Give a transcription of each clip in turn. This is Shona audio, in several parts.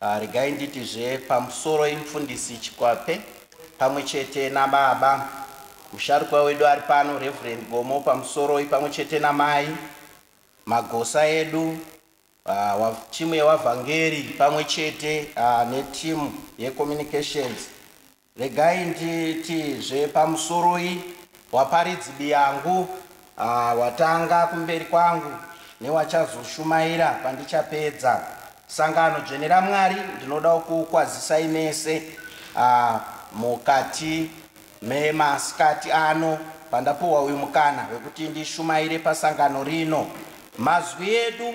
Ah, regai nditi zve pamusoro imfundisi Chikwape pamwe chete nababa musharukwa wedu ari pano Reverend Gomo pamusoroi pamwe chete namai magosa edu ah, wa, timu yewavhangeri pamwe chete ah, netimu yecommunications Regai nditi zve pamusoroi waparidzi biyangu ah, watanga kumberi kwangu newachazoshumaira pandichapedza sangano dzvene raMwari ndinodawo kuukwazisai mese ah, mukati memasikati ano pandapuhwa uyu mukana wekuti ndishumaire pasangano rino mazwi edu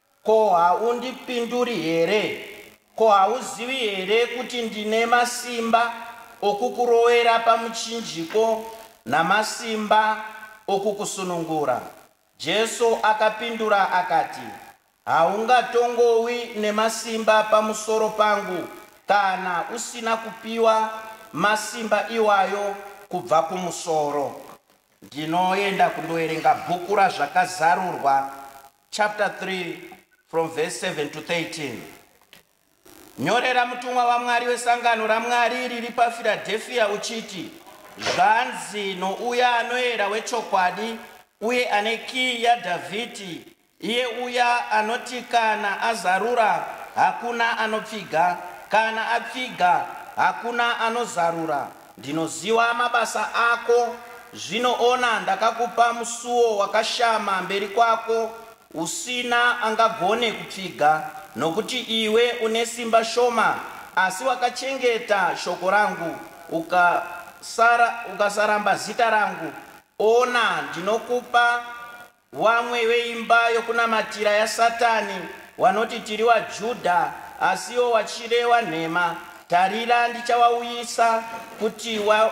Ko haundipinduri here? Ko hauzivi here kuti ndine masimba okukurowera pamuchinjiko namasimba okukusunungura? Jesu akapindura akati, Haungatongowi nemasimba pamusoro pangu kana usina kupiwa masimba iwayo kubva kumusoro. Ndinoenda kundoverenga bhuku raZvakazarurwa chapter 3 from verse 7 to 13 nyorera mutumwa wamwari wesangano ramwari riri pafiradhefiya uchiti zvanzi nouya anoera wechokwadi uye ane kiyi yadhavhidhi iye uya anoti kana azarura hakuna anopfiga kana apfiga hakuna anozarura Ndinoziva mabasa ako, zvino ona ndakakupa musuo wakashama mberi kwako, usina angagone kupfiga, nokuti iwe une simba shoma, asi wakachengeta shoko rangu, ukasara, ukasaramba zita rangu, ona, ndinokupa Vamwe veimba yokunamatira yaSatani vanoti tiri vaJudha, asi ivo vachireva nhema. Tarira, ndichavauyisa kuti va,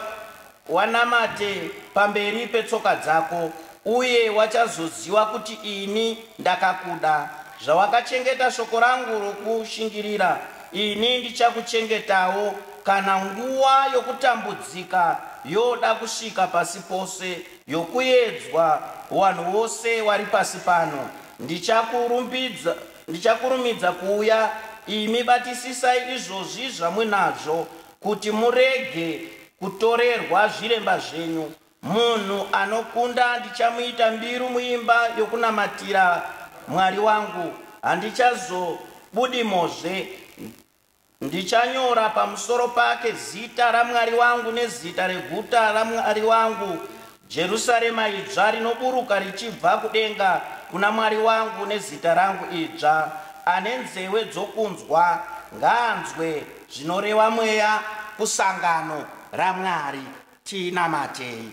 vanamate pamberi petsoka dzako, uye vachazoziva kuti ini ndakakuda. Zvawakachengeta shoko rangu rokushingirira, ini ndichakuchengetawo, kana nguva yokutambudzika yoda kusvika pasi pose. yokuedzwa wanhu wose wari pasi pano. Ndichakurumbidza, ndichakurumidza kuuya, imi batisisai izvozvi zvamuinazvo, kuti murege kutorerwa zviremba zvenyu. Munhu anokunda ndichamuita mbiru muimba yokunamatira Mwari wangu, handichazobudimozve. Ndichanyora pamusoro pake zita raMwari wangu nezita reguta raMwari wangu, Jerusarema idzva rinoburuka richibva kudenga kuna Mwari wangu nezita rangu idzva. Ane nzeve dzokunzwa, ngaanzwe zvinoreva Mweya kusangano raMwari. Tinamatei.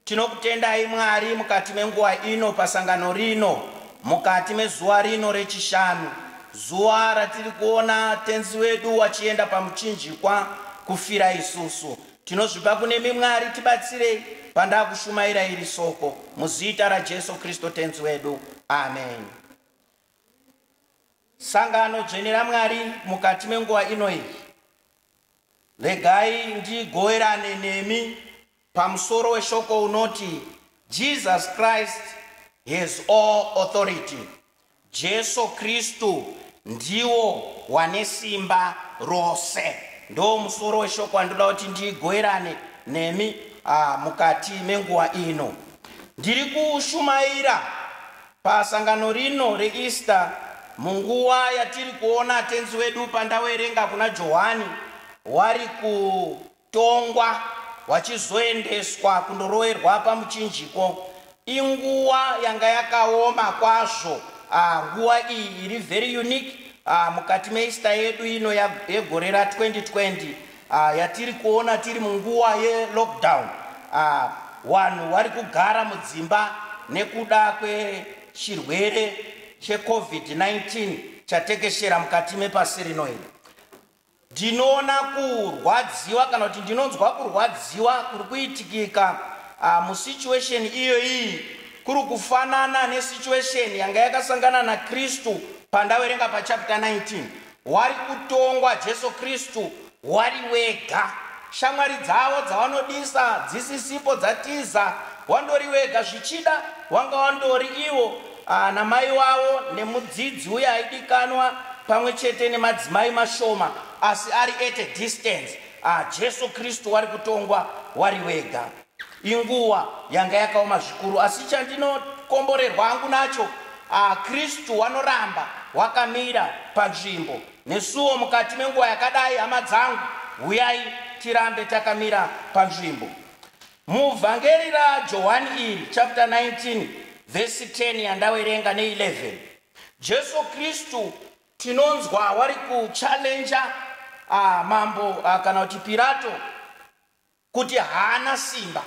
Tinokutendai Mwari mukati menguva ino pasangano rino, mukati mezuva rino reChishanu, zuva ratiri kuona Tenzi wedu wachienda paMuchinjikwa kufira isusu. Tinozvipa kunemi Mwari tibatsirei pandakushumaira iri Soko, muzita raJesu Kristo Tenzi wedu. Ameni. Sangano dzvene raMwari mukati menguva ino iyi, regai ndigoverane nemi Pamusoro weshoko unoti Jesus Christ has all authority. Jesu Kristu ndiwo wane simba rose. Ndoo musoro weshoko wandinoda kuti ndigoerane nemi uh, mukati menguva ino. Ndiri kushumaira pasangano rino reEaster munguva yatiri kuona tenzi wedu pandawerenga kuna Johani wari ku Tongwa hwachizoendeswa kundoroerwa pamuchinjiko. Inguwa yanga yakaoma kwazvo ah, nguwa iyi iri very unique ah, mukati meEaster yedu ino ya- yegore ra 2020 ah, yatiri kuona tiri munguwa yelockdown. Ah, Wanhu wari kugara mudzimba nekuda kwechirwere cheCovid-19 chatekeshera mukati mepasi rino iri. Ndinoona kurwadziwa kana kuti ndinonzwa kurwadziwa kuri kuitikika uh, musituation iyo iyi kuri kufanana nesituation yanga yakasangana naKristu pandaverenga pachapter 19 wari kutongwa Jesu Kristu wari wega shamwari dzavo dzavanodisa dzisisipo dzatiza wandori wega zvichida wanga wandori ivo Ana mai wavo nemudzidzi uye aidikanwa pamwe chete nemadzimai mashoma asi ari at a distance. Ah, Jesu Kristu wari kutongwa wari wega. Inguva yanga yakaoma zvikuru asi chandinokomborerwa hangu nacho, ah, Kristu wanoramba wakamira panzvimbo nesuwo mukati menguva yakadai. Hama dzangu, huyai tirambe takamira panzvimbo. Muvhangeri raJohani iri, chapter 19, vhesi 10 yandawerenga ne11, Jesu Kristu tinonzwa wari kuchalenja ah, mambo ah, kana kuti Pirato kuti haana simba.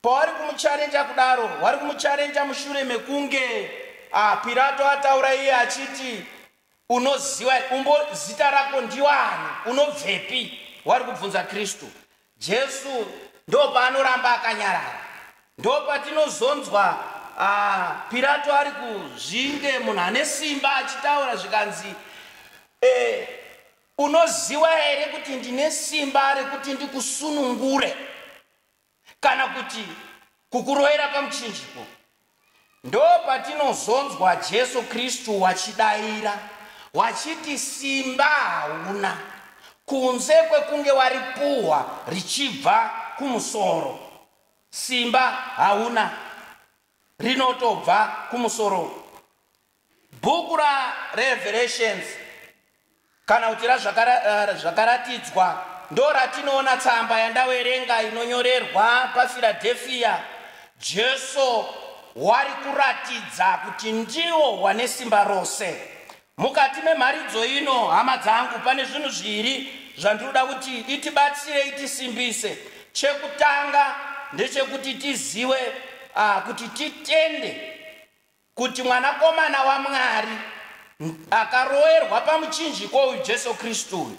Pawari kumucharenja kudaro, wari kumucharenja mushure mekunge ah, Pirato ataura iye achiti unoziva umbo zita rako ndiwani unobvepi wari kubvunza kristu Jesu ndopaanoramba akanyarara. Ndopatinozonzwa uh, Pirato ari kuzvinge munhu ane simba achitaura zvikanzi eh, unoziva here kuti ndine simba rekuti ndikusunungure kana kuti kukuroyera pamuchinjiko Ndopatinozonzwa Jesu Kristu wachidaira, wachiti, Simba hauna, kunze kwekunge waripuhwa richibva kumusoro. Simba hauna, rinotobva kumusoro. Bhuku raRevelations kana kuti raZvakaratidzwa eh, ndo ratinoona tsamba yandawerenga inonyorerwa paFiladhefiya. Jesu wari kuratidza kuti ndiwo wane simba rose. Mukati memharidzo ino, hama dzangu, pane zvinhu zviri zvandinoda kuti itibatsirei tisimbise. Chekutanga ndechekuti tiziwe uh, kuti titende Kuti Mwanakomana waMwari akaroerwa pamuchinjiko uyu Jesu Kristu uyu,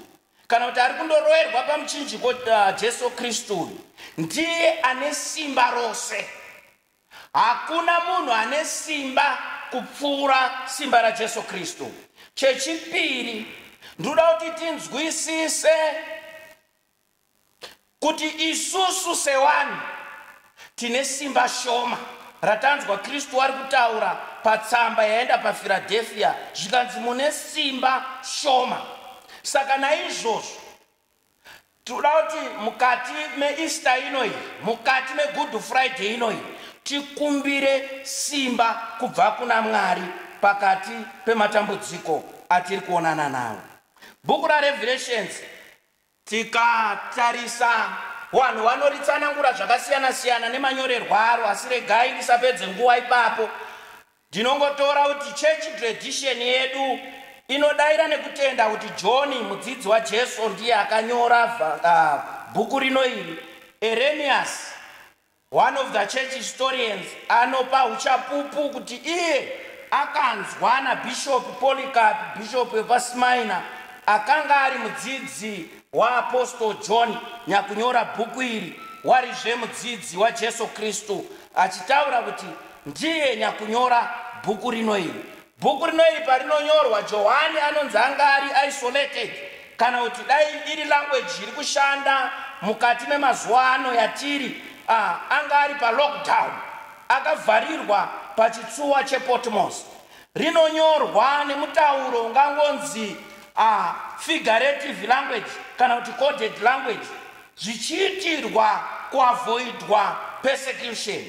kana kuti ari kundoroerwa pamuchinjiko uh, Jesu Kristu uyu, ndiye ane simba rose. Hakuna munhu ane simba kupfuura simba raJesu Kristu. Chechipiri, ndoda kuti tinzwisise kuti isusu sewanhu tine simba shoma ratanzwa kristu wari kutaura patsamba yaenda pafiradhefia zvikanzi mune simba shoma saka naizvozvo tinoda kuti mukati meista inoyi mukati megood friday inoyi tikumbire simba kubva kuna mwari pakati pematambudziko atiri kuonana nawo bhuku rarevelation Tikatarisa, vanhu vanoritsanangura zvakasiyana-siyana nemanyorerwo aro, asi regai ndisapedze nguva ipapo. Ndinongotora kuti chechi tiredhisheni yedu inodaira nekutenda kuti Joni, mudzidzi waJesu, ndiye akanyora bhuku rino iri. Ereniasi One of the church historians anopa uchapupu kuti iye akanzwa naBishop Polycarp, bishop wepaSmyrna, akanga ari mudzidzi waApostle John nyakunyora bhuku iri, warizve mudzidzi waJesu Kristu, achitaura kuti ndiye nyakunyora bhuku rino iri. Bhuku rino iri parinonyorwa, Johani anonzi anga ari isolated, kana kuti dai iri language iri kushanda mukati memazuva ano yatiri, ah, anga ari palockdown, akavharirwa pachitsuwa chePotmos. Rinonyorwa nemutauro ungangonzi ah, figurative language kana kuti coded language, zvichiitirwa kuavoidwa persecution.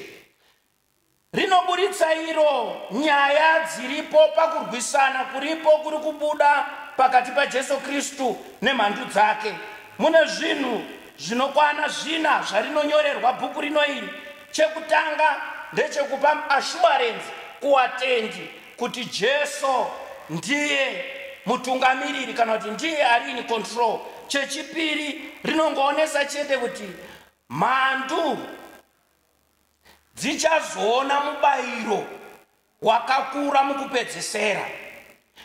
rinoburitsa iro nyaya dziripo pakurwisana kuripo kuri kubuda pakati paJesu Kristu nemhandu dzake. Mune zvinhu zvinokwana zvina zvarinonyorerwa bhuku rino iri. Chekutanga ndechekupa ashuwarenzi kuwatendi kuti Jesu ndiye mutungamiriri kana kuti ndiye ari in control. Chechipiri rinongoonesa chete kuti mhandu dzichazoona mubayiro wakakura mukupedzisira.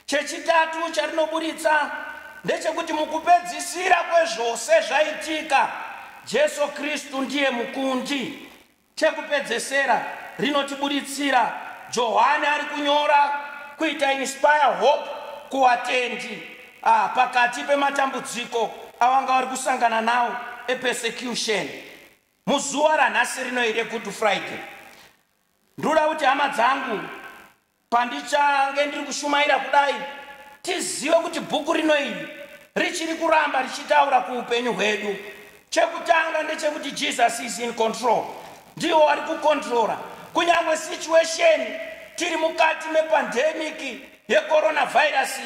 Chechitatu charinoburitsa ndechekuti mukupedzisira kwezvose zvaitika, Jesu Kristu ndiye mukundi. Chekupedzesera rinotiburitsira Johani ari kunyora kuita inspire hope kuwatendi ah, pakati pematambudziko avanga vari kusangana nawo epersecution. Muzuva ranhasi rino iri Good Friday, ndoda kuti hama dzangu, pandichange ndiri kushumaira kudai, tizive kuti bhuku rino iri richiri kuramba richitaura kuupenyu hwedu. Chekutanga ndechekuti Jesus is in control, ndiwo wari kukontrora kunyangwe situation tiri mukati mepandemic yecoronavirus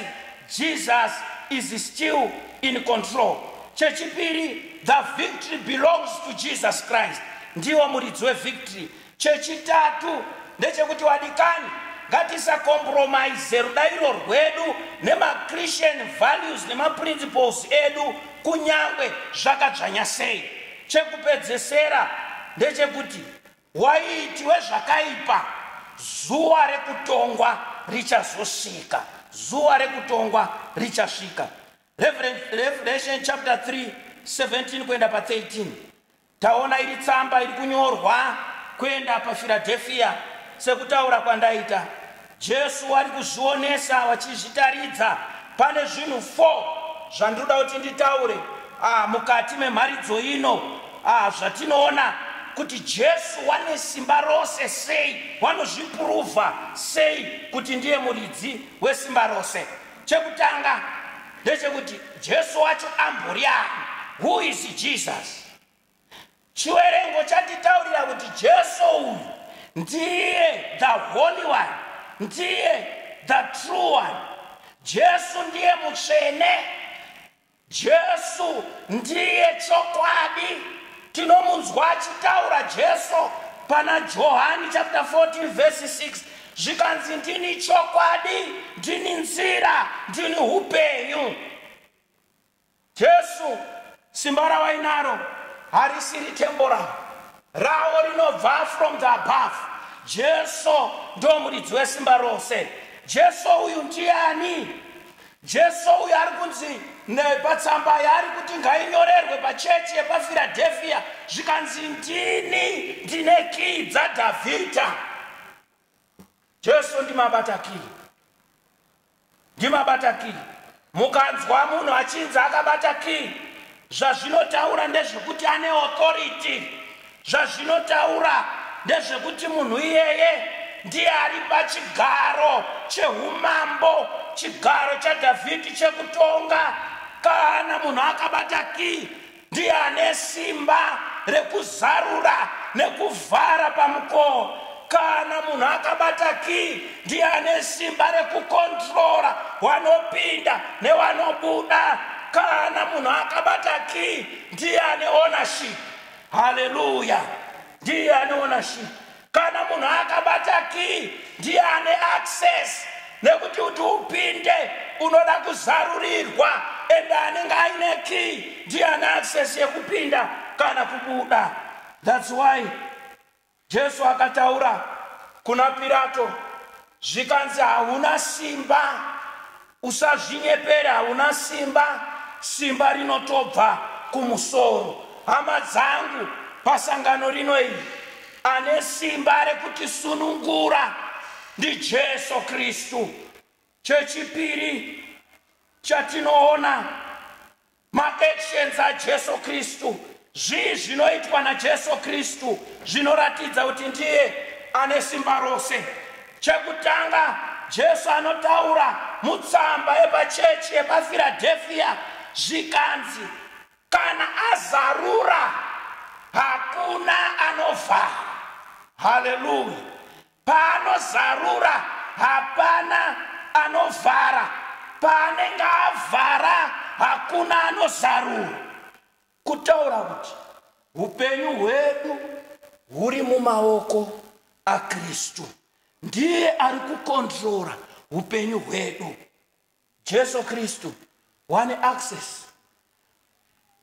jesus is still in control chechipiri the victory belongs to jesus christ ndiwo muridzi wevictory chechitatu ndechekuti wadikani ngatisakompromise rudairo rwedu nemachristian values nemaprinciples edu kunyange zvakadzvanya sei chekupedzesera ndechekuti Waitiwe zvakaipa, zuva rekutongwa richazosvika, zuva rekutongwa richasvika. Revelation chapter 3 17 kuenda pa 13 taona iri tsamba iri kunyorwa kuenda pafiradhefiya sekutaura kwandaita Jesu ari kuzvionesa vachizvitaridza. Pane zvinhu four zvandinoda kuti nditaure ah, mukati memharidzo ino ah, zvatinoona kuti Jesu wane simba rose sei, wanozvipuruvha sei kuti ndiye muridzi wesimba rose. Chekutanga ndechekuti Jesu wacho ambori ani? Who is Jesus? Chiwerengo chanditaurira kuti Jesu uyu ndiye the holy one, ndiye the true one. Jesu ndiye mutsvene. Jesu ndiye chokwadi. Tinomunzwa achitaura Jesu pana Johani chapter 14 verse 6 zvikanzi ndini chokwadi, ndini nzira, ndini upenyu. Jesu simba rawainaro harisiri temporal rawo rinobva from the above jesu ndo muridzi wesimba rose jesu uyu ndiani jesu uyu ari kunzi nepatsamba yaari kuti ngainyorerwe pachechi yepafiradhefiya zvikanzi ndini ndine kii dzadhavhidha Jesu ndimabata kiri, ndimabata kiri. Mukanzwa munhu achinzi akabata kiri, zvazvinotaura ndezvekuti ane authority. Zvazvinotaura ndezvekuti munhu iyeye ndiye ari pachigaro chehumambo, chigaro chaDhavhidhi chekutonga. Kana munhu akabata kii, Ndiye ane simba rekuzarura nekuvhara pamukoo. Kana munhu akabata kii, ndiye ane simba rekukontrora wanopinda newanobuda. Kana munhu akabata kii, ndiye ane ownership. Haleluya! Ndiye ane ownership. kana munhu akabata kii ndiye ane access nekuti kuti upinde unoda kuzarurirwa ende anenge aine kii ndiye ane access yekupinda kana kubuda thats why jesu akataura kuna pirato zvikanzi hauna simba usazvinyepere hauna simba simba rinotobva kumusoro hama dzangu pasangano rino iri ane simba rekutisunungura ndijesu kristu chechipiri chatinoona Maactions aJesu Kristu. Zvii zvinoitwa naJesu Kristu zvinoratidza kuti ndiye ane simba rose? Chekutanga, Jesu anotaura mutsamba yepachechi yepaFiradhefiya zvikanzi, Kana azarura, hakuna anovhara. Haleluya! Paanozarura hapana anovhara, paanenge avhara hakuna anozarura. Kutaura kuti upenyu hwedu huri mumaoko aKristu, ndiye ari kukondirora upenyu hwedu. Jesu Kristu wane access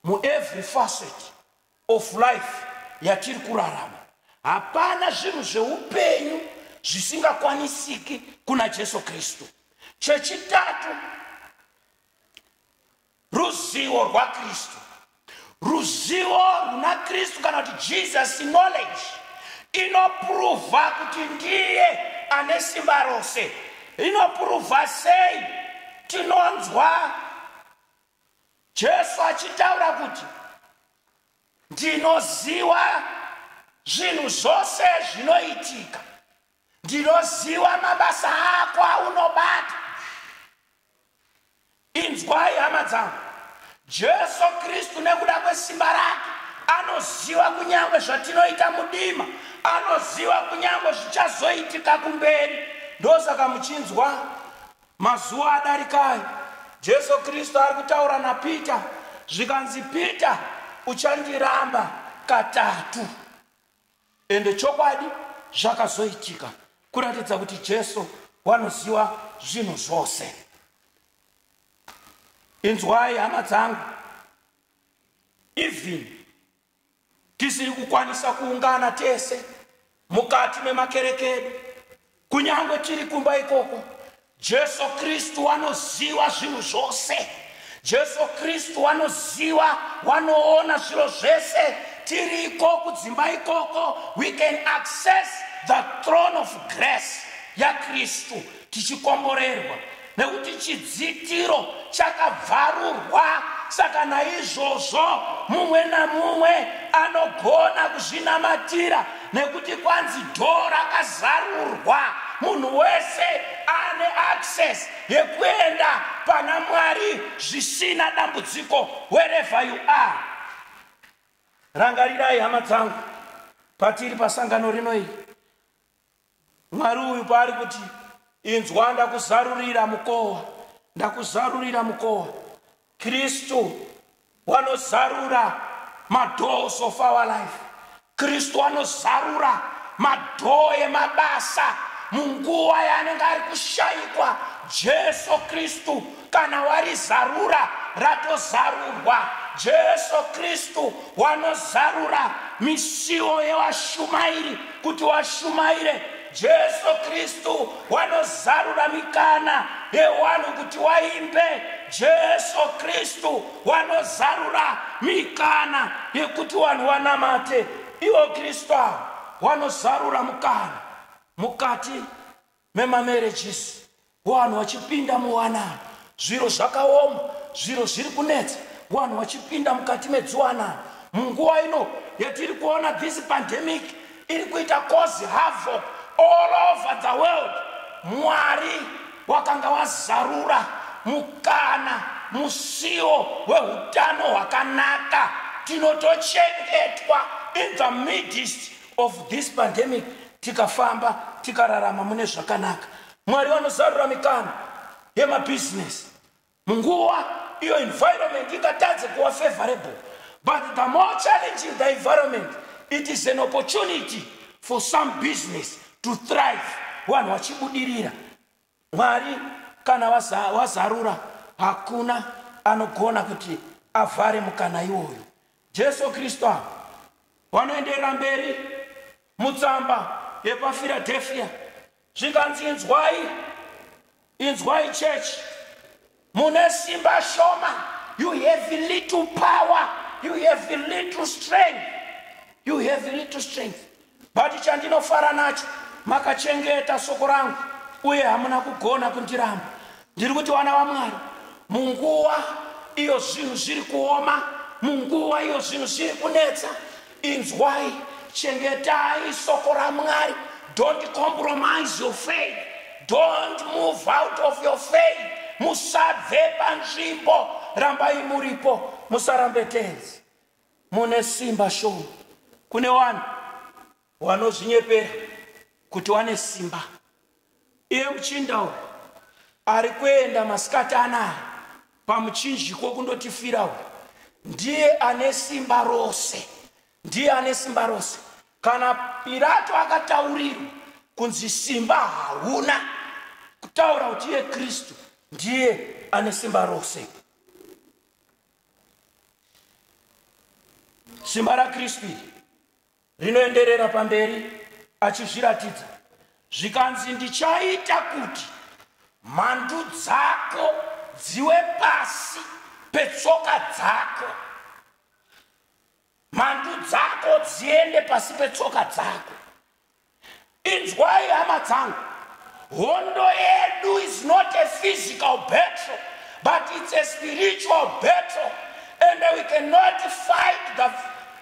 mu every facet of life yatiri kurarama. Hapana zvinhu zveupenyu zvisingakwanisiki kuna Jesu Kristu. Chechitatu, ruzivo rwakristu ruzivo runa kristu kana kuti jesus knowledge inopuruvha kuti ndiye ane simba rose inopuruvha sei tinonzwa jesu achitaura kuti ndinoziva zvinhu zvose zvinoitika ndinoziva mabasa ako aunobata inzwai hama dzangu jesu kristu nekuda kwesimba rake anoziva kunyange zvatinoita mudima anoziva kunyange zvichazoitika kumberi ndosaka muchinzwa mazuva adarikai jesu kristu ari kutaura napita zvikanzi pita uchandiramba katatu ende chokwadi zvakazoitika kuratidza kuti jesu wanoziva zvinhu zvose inzwai hama dzangu even tisiri kukwanisa kuungana tese mukati memakereke edu kunyangwe tiri kumba ikoko jesu kristu wanoziva zvinhu zvose jesu kristu wanoziva wanoona zviro zvese tiri iko kudzimba ikoko we can access the throne of grace yakristu tichikomborerwa nekuti chidzitiro chakabvarurwa saka naizvozvo mumwe namumwe anogona kuzvinamatira nekuti kwanzi dho rakazarurwa munhu wese ane access yekuenda pana mwari zvisina dambudziko wherever you are rangarirai hama dzangu patiri pasangano rino iri Mwari uyu paari kuti inzwa ndakuzarurira mukowa ndakuzarurira mukowa kristu wanozarura madoors of our life kristu anozarura madhoo emabasa munguva yaanenge ari kushaikwa jesu kristu Kana warizarura ratozarurwa. Jesu Kristu wanozarura misiwo yevashumairi kuti washumaire. Jesu Kristu wanozarura mikana yewanhu kuti waimbe. Jesu Kristu wanozarura mikana yekuti wanhu wanamate. Iwo Kristu awo wanozarura mukana mukati memamarriages wanhu wachipinda muwanano zviro zvakaoma zviro zviri kunetsa wanhu wachipinda mukati medziwanano munguva ino yatiri kuona this pandemic iri kuita cause havoc all over the world mwari wakanga wazarura mukana musiwo weutano hwakanaka tinotochengetwa in the midst of this pandemic tikafamba tikararama mune zvakanaka mwari vanozarura mikana yemabhizinesi munguva iyo environment ingatadze kuva favorable but the more challenging the environment it is an opportunity for some business to thrive vanhu vachibudirira Mwari kana wazarura hakuna anogona kuti avhare mukana iwoyo. Jesu Kristu ava vanoenderera mberi mutsamba yepaFiradhefia zvikanzi, Inzwai, inzwai chechi, Mune simba shoma. You have little power. You have little strength. You have little strength. But chandinofara nacho makachengeta soko rangu uye hamuna kugona kundiramba. Ndiri kuti vana vaMwari munguva iyo zvinhu zviri kuoma munguva iyo zvinhu zviri kunetsa inzwai chengetai soko ramwari don't compromise your faith don't move out of your faith musabve panzvimbo rambai muripo musarambe tenzi mune simba shoma kune vanhu vanozvinyepera kuti wane simba Iye muchinda uyu ari kuenda masikati anaya pamuchinjiko kundotifira uyu ndiye ane simba rose, ndiye ane simba rose. Kana Pirato akataurirwa kunzi simba hauna kutaura kuti iye Kristu ndiye ane simba rose. Simba raKristu iri rinoenderera pamberi achizviratidza zvikanzi ndichaita kuti mhandu dzako dziwe pasi petsoka dzako mhandu dzako dziende pasi petsoka dzako Inzwai hama dzangu, hondo yedu is not a physical battle but it's a spiritual battle and we cannot fight the,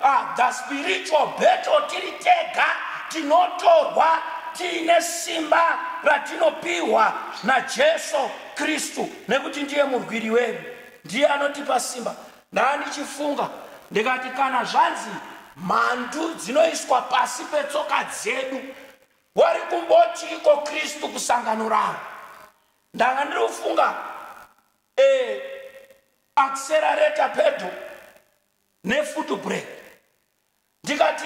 uh, the spiritual battle tiri tega tinotorwa tiine simba ratinopiwa najesu kristu nekuti ndiye murwiri wedu ndiye anotipa simba Ndandichifunga ndikati kana zvanzi mhandu dzinoiswa pasi petsoka dzedu wari kumboti iko kristu kusangano ravo ndanga ndiri kufunga e accelerata pedo nefoot break ndikati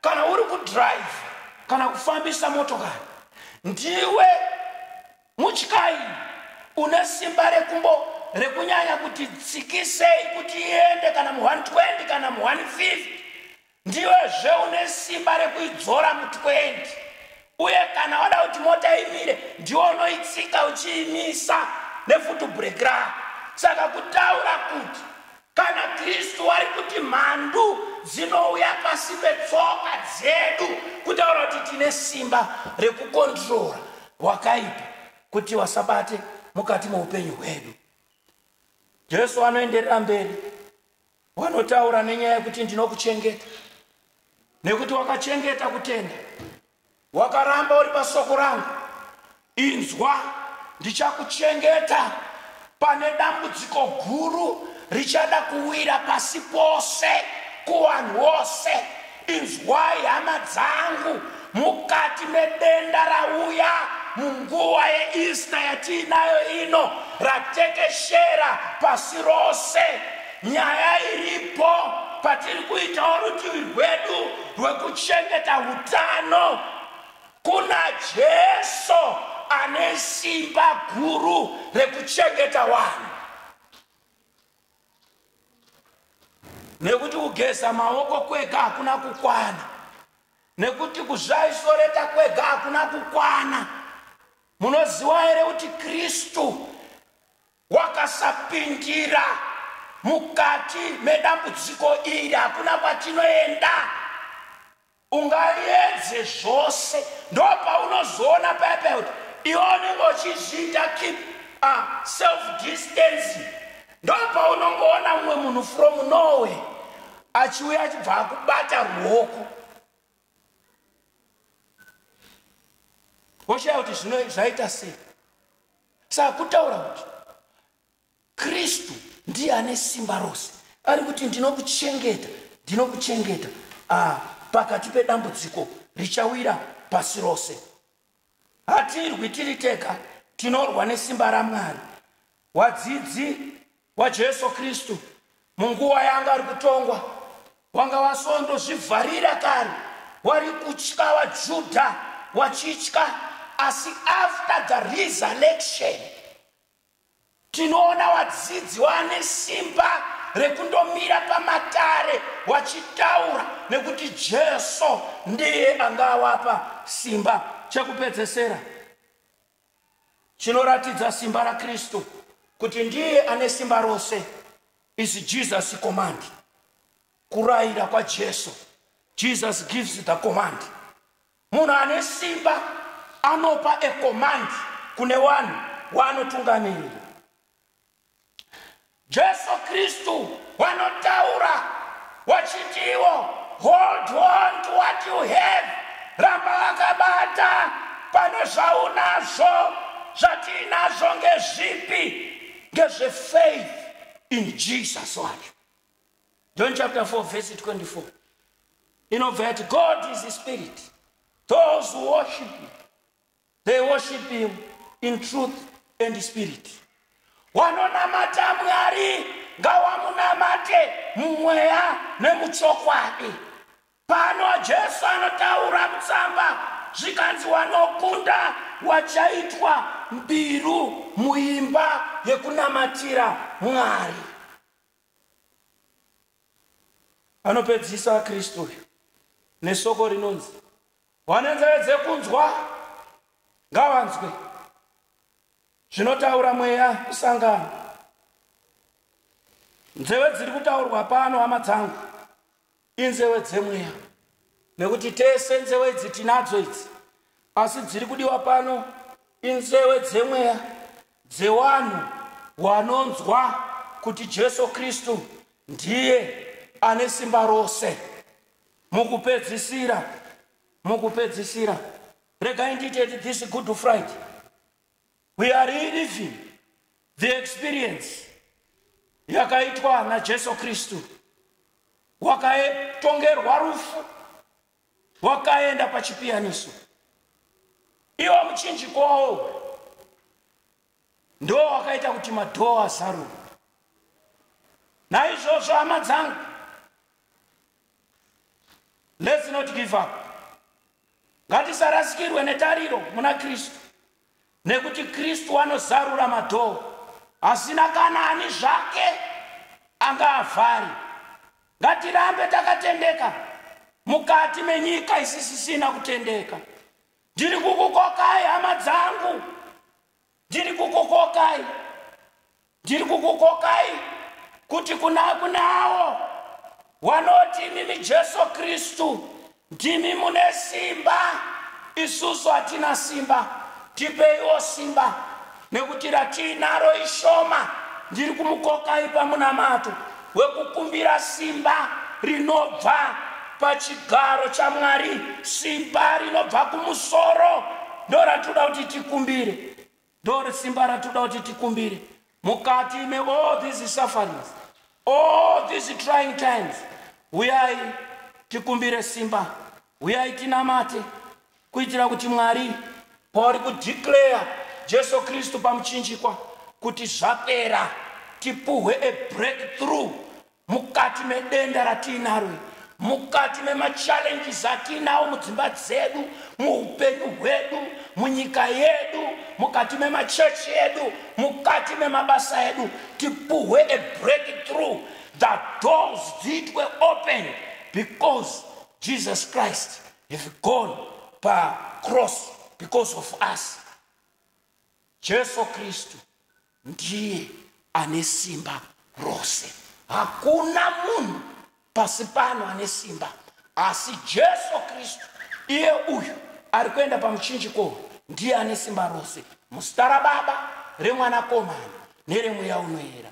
kana uri kudrive kana kufambisa motokari ndiwe mutyayi une simba rekumbo rekunyanya kuti tsikisei kuti iende kana mu120 kana mu150 ndiwe zve une simba rekuidzora mu20 uye kana wada kuti mota imire ndiwe unoitsika uchiimisa nefutu break rako saka kutaura kuti Kana Kristu ari kuti mhandu dzinouya pasi petsoka dzedu, kutaura kuti tine simba rekukondirora wakaipa kuti wasabate mukati meupenyu hwedu. Jesu anoenderera mberi wanotaura nenyaya yekuti ndinokuchengeta nekuti wakachengeta kutenda Wakaramba uri pasoko rangu, inzwa, ndichakuchengeta pane dambudziko guru richada kuwira pasi pose kuvanhu vose. Inzwai hama dzangu, mukati medenda rauya munguva yeEaster yatiinayo ino, ratekeshera pasi rose. Nyaya iripo patiri kuitawo rutivi rwedu rwekuchengeta utano kuna Jesu ane simba guru rekuchengeta vanhu. Nekuti kugeza maoko kwega hakuna kukwana, nekuti kuzvaisoreta kwega hakuna kukwana. Munoziva here kuti Kristu Wakasapindira mukati medambudziko iri hakuna kwatinoenda. Ungaedze zvose ndopaunozoona paya paya kuti iwe unenge uchizviita keep a self distancing ndopaunongoona mumwe munhu from norway achiuya achibva akubata ruoko woshaya kuti zvino zvaita sei saka kutaura kuti kristu ndiye ane simba rose ari kuti ndinokuchengeta ndinokuchengeta ah, pakati pedambudziko richawira pasi rose hatirwi tiri tega tinorwa nesimba ramwari wadzidzi waJesu Kristu munguva yaanga ari kutongwa wanga wasondozvivharira kare wari kutya vaJudha wachitya asi after the resurrection tinoona vadzidzi vane simba rekundomira pamatare vachitaura nekuti jesu ndiye angawapa simba chekupedzesera chinoratidza simba rakristu kuti ndiye ane simba rose is jesus command kurayira kwajesu jesus gives the command munhu ane simba anopa a command kune vanhu waanotungamirira Jesu Kristu wanotaura wachiti iwo hold on to what you have ramba wakabata pane zvaunazvo zvatiinazvo ngezvipi ngezvefaith in Jesus wacho John chapter 4 verse 24 inobva yati God is spirit those who worship him they worship him in truth and spirit wanonamata mwari ngawamunamate mumweya nemuchokwadi pano jesu anotaura mutsamba zvikanzi wanokunda wachaitwa mbiru muimba yekunamatira mwari anopedzisa kristu uyu nesoko rinonzi Vane nzeve dzekunzwa ngavanzwe zvinotaura mweya kusangana. Nzeve dziri kutaurwa pano hama dzangu inzeve dzemweya nekuti tese nzeve idzi tinadzo idzi asi dziri kudiwa pano inzeve dzemweya dzewanhu wanonzwa kuti Jesu Kristu ndiye ane simba rose. mukupedzisira mukupedzisira regai ndiite this good friday we are reliving the experience yakaitwa najesu kristu wakatongerwa rufu wakaenda pachipiyaniso iwo muchinjikowo ndo wakaita kuti madhoo azaruke naizvozvo hama dzangu let's not give up ngatisarasikirwe netariro muna kristu nekuti kristu anozarura madhoo asina kana ani zvake anga avhari ngatirambe takatendeka mukati menyika isisisina kutendeka ndiri kukukokai hama dzangu ndiri kukukokai ndiri kukukokai kuti kuna kunawo wanoti imimi jesu kristu ndimi mune simba isusu hatina simba tipeiwo simba nekuti ratiinaro ishoma ndiri kumukokai pamunamato wekukumbira simba rinobva pachigaro chamwari simba rinobva kumusoro ndo ratinoda kuti tikumbire ndo simba ratinoda kuti tikumbire mukati me all these sufferings all these trying times huyai tikumbire simba huyai tinamate Kuitira kuti Mwari pauri kudeclare Jesu Kristu pamuchinjikwa kuti zvapera tipuhwe a breakthrough mukati medenda ratiinaro mukati memachallenges atiinawo mudzimba dzedu muupenyu hwedu munyika yedu mukati memachechi edu mukati memabasa edu tipuhwe a breakthrough the doors dziitwe open because jesus christ have gone pacross because of us jesu kristu ndiye ane simba rose hakuna munhu pasi pano ane simba asi jesu kristu iye uyu ari kuenda pamuchinjiko ndiye ane simba rose muzita rababa remwanakomana neremweya unoera